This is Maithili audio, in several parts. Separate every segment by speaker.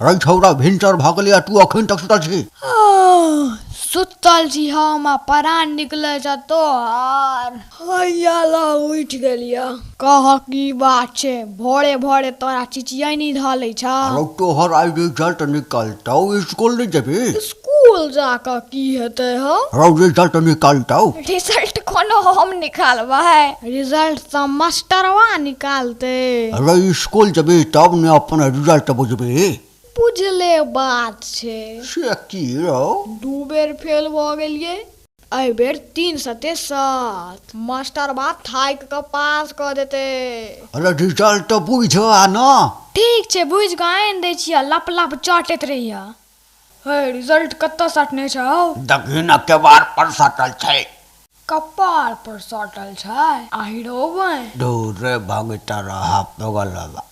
Speaker 1: अरे छौरा भिनसर भऽ गेलै आ तू अखन तक सुतल छी सुतल छी हम आ परान निकले छ तोहर हैया ला उठि गेलिया कहक की बात छै? भोरे-भोरे तोरा चिचियैनी धऽ लै छह। रौ तोहर आइ रिजल्ट निकलतौ, इसकुल नै जेबही? इसकुल जा कऽ की हेतै हौ? रौ रिजल्ट निकलतौ। रिजल्ट कोनो हम निकालबै? रिजल्ट तँ मस्टरवा निकालतै। रौ इसकुल जेबही तब ने अपन रिजल्ट बुझबही। बुझले बात छै। से की रौ? दू बेर फेल भऽ गेलियै। एहि बेर तीन सते सात। मास्टरबा थाकि कऽ पास कऽ देतै। अरे रिजल्ट तँ बुझिहऽ आ ने। ठीक छै, बुझि कऽ आनि दै छिअह। लप-लप चाटैत रहिहऽ। हौ, रिजल्ट कतऽ साटने छेँ हौ? देखही ने केबाड़ पर साटल छैक। कपार पर साटल छै? आहि रौ बँइ। धुर रे भगितरहा पगलवा।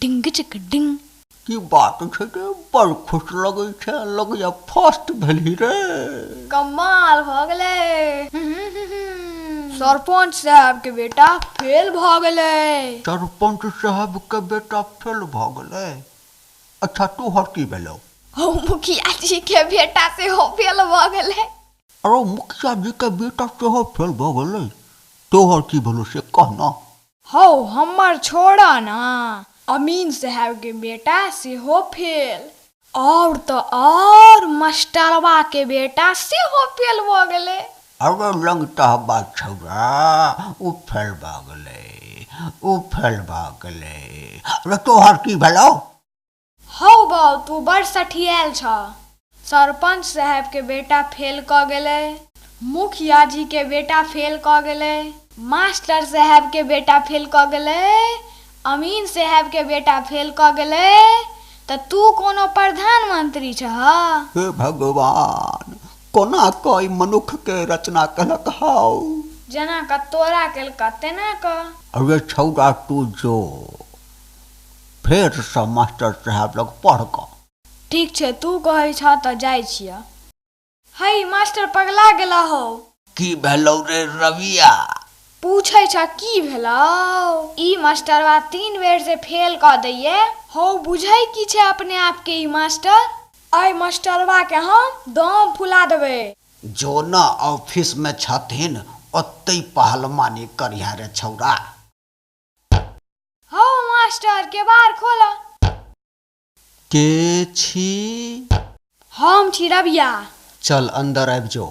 Speaker 1: डिंगचक डिंग की बात छै रे बड़ खुश लगै छै लगैया फर्स्ट भेली रे कमाल भ गेलै सरपंच साहब के बेटा फेल भ गेलै सरपंच साहब के बेटा फेल भ गेलै अच्छा तू हर की भेलो ओ मुखिया जी के बेटा से हो फेल भ गेलै अरे मुखिया जी के बेटा से हो फेल भ गेलै तो हर की भेलो से कहना हौ हम्मर छोड़ऽ नऽ, अमीन साहेब के बेटा सेहो फेल। आओर तऽ आओर मस्टरवा के बेटा सेहो फेल भऽ गेलै। अरे लंगटह बा छौड़ा, ओ फेल भऽ गेलै, ओ फेल भऽ गेलै। अरे तोहर की भेलौ? हौ बाउ, तूँ बड़ सठियाएल छह। सरपंच साहेब के बेटा फेल कऽ गेलै। मुखिया जी के बेटा फेल कऽ गेलै। मास्टर साहेब के बेटा फेल कऽ गेलै। अमीन साहेब के बेटा फेल कऽ गेलै। तऽ तूँ कोनो प्रधानमंत्री छह? हे भगवान! कोना कऽ ई मनुक्ख के रचना केलक हौ? जेना कऽ तोरा केलकऽ तेना कऽ। रे छौड़ा तूँ जो। फेरसँ मास्टर साहेब लग पढ़ कऽ। ठीक छै, तूँ कहै छह तँ जाइ छिअह। हइ, मास्टर पगला गेला हौ। की भेलौ रे रविया? पूछै छह की भेलौ? ई मास्टरवा तीन बेर जे फेल कऽ दैए। हौ, बुझै की छह अपने आपकेँ ई मास्टर? अइ मास्टरवाकेँ हम दम फुला देबै। जो ने, ऑफिसमे छथिन, ओतहि पहलमानी करिहैं रे छौड़ा। हौ मास्टर केबाड़ खोलऽ के छी हम छी रबिया चल अन्दर आबि जो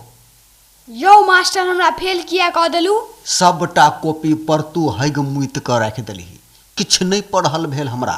Speaker 1: यौ मास्टर हमरा फेल किया कऽ देलू सभटा कॉपी पर तू हगि मुति कऽ राखि देलही किछु नहि पढ़ल भेल हमरा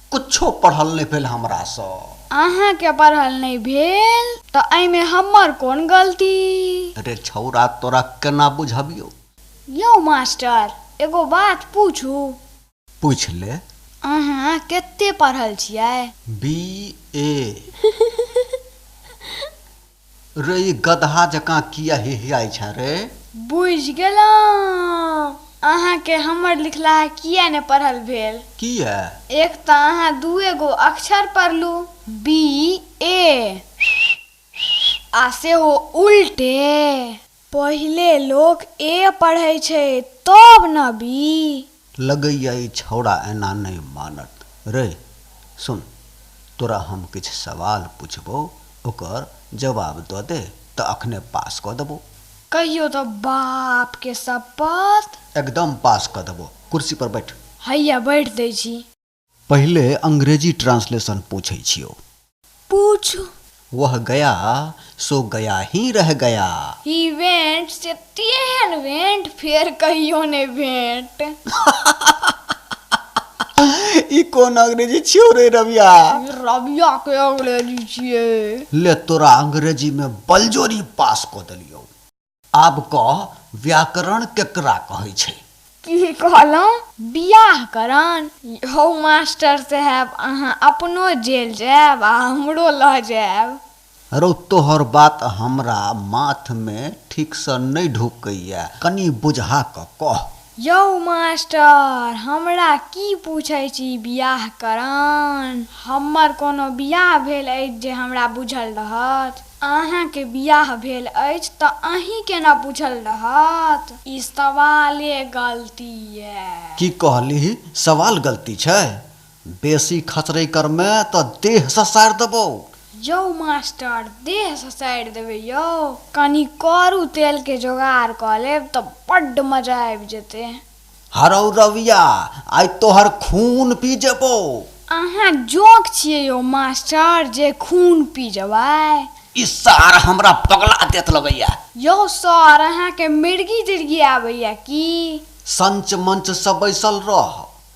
Speaker 1: किछो पढ़ल नहि भेल हमरासँ। अहाँकेँ पढ़ल नहि भेल तँ एहिमे हमर कोन गलती? रे छौड़ा, तोरा केना बुझबियौ? यौ मास्टर, एगो बात पूछू? पूछि ले। अहाँ केते पढ़ल छियै? बी.ए। रइ गदहा जकाँ किए हिहिआइ छेँ रे? बुझि गेलौं। अहाँकेँ हमर लिखलाहा किए ने पढ़ल भेल? किए? एक तँ अहाँ दुए गो अक्षर पढ़लू, बी-ए, आ सेहो उल्टे। पहिले लोक ए पढ़ै छै तब न बी। लगैए ई छौड़ा एना नै मानत। रै सुन, तोरा हम किछु सवाल पुछबौ ओकर जवाब दऽ दे तँ अखने पास कऽ देबौ। कहियौ तँ बाप के सप्पत। एकदम पास कऽ देबौ। कुर्सी पर बैठ। हैया बैठ दै छी। पहिले अंग्रेजी ट्रांसलेशन पूछै छियो पूछू वह गया सो गया ही रह गया ही वेंट से तेहन वेंट फेर कहियो ने भेंट ई कोन अंग्रेजी छियो रे रविया रविया के अंग्रेजी छिए ले तोरा अंग्रेजी में बलजोरी पास क देलियो आब कह व्याकरण केकरा कहै छै? की कहलौं? बिआह करण? यौ मास्टर साहेब अहाँ अपनो जेल जाएब आ हमरो लऽ जाएब। रौ तोहर बात हमरा माथमे ठीकसँ नै ढुकैए। कनी बुझा कऽ कह। यौ मास्टर, हमरा की पूछै छी बिआह करान? हमर कोनो बिआह भेल अछि जे हमरा बुझल रहत? अहाँकेँ बिआह भेल अछि तँ अहींकेँ ने बुझल रहत। ई सवाले गलती ऐ। की कहलीह सवाल गलती छै? बेसी खचरै करमे तँ देह ससारि देबौ। यौ मास्टर, देह ससारि देबै यौ? कनी करू तेलके जोगार कऽ लेब तँ बड्ड मजा आबि जेतै। हरौ रविया, आइ तोहर खून पी जेबौ। अहाँ जोंक छियै यौ मास्टर जे खून पी जेबै। ई सार हमरा पगला देत लगैए। यौ सर, अहाँकेँ मिर्गी-तिर्गी आबैए की? संच-मंचसँ बैसल रह।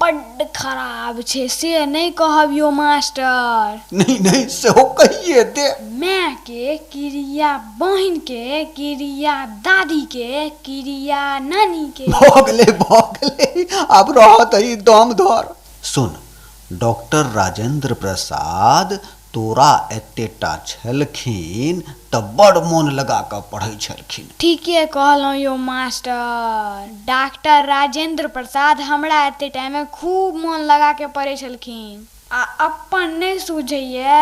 Speaker 1: बड्ड खराब छै। से नै कहब यौ मास्टर। नहि नहि सेहो कहिये दे। माय के किरिया बहिन के किरिया दादी के किरिया नानी के। भऽ गेलै भऽ गेलै। आब रहऽ दही दम धर। सुन डॉक्टर राजेन्द्र प्रसाद। तोरा एतेटा छेलखिन तँ बड़ मोन लगा कऽ पढ़ै छेलखिन। ठीके कहलौं यौ मास्टर। डाक्टर राजेन्द्र प्रसाद हमरा एतेटामे खूब मोन लगा कऽ पढ़ै छेलखिन। आ अप्पन नै सूझैए।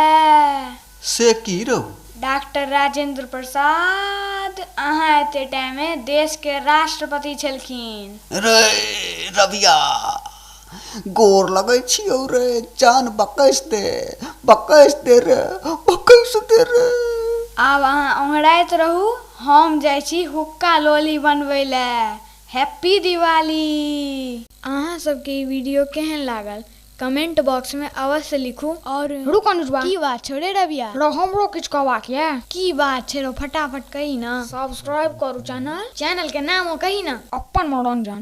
Speaker 1: से की रौ? डाक्टर राजेन्द्र प्रसाद, अहाँ एतेटामे देशकेँ राष्ट्रपति छेलखिन। रै रबिया! गोर लगै छियौ रे जान बकैस दे बकैस दे रे बकैस दे रे आब अहाँ ओंघराइत रहू हम जाइ छी हुक्का लोली बनबै ले हैप्पी दिवाली। अहाँ सब के ई वीडियो केहेन लागल कमेंट बॉक्स में अवश्य लिखू। और रुक अनुजवा की बात छौ रे रविया। रौ हमरो किछु कहबाक ये। की बात छै रौ फटाफट कही न। सब्सक्राइब करू चैनल। चैनल के नामो कही न। अपन मनोरंजन।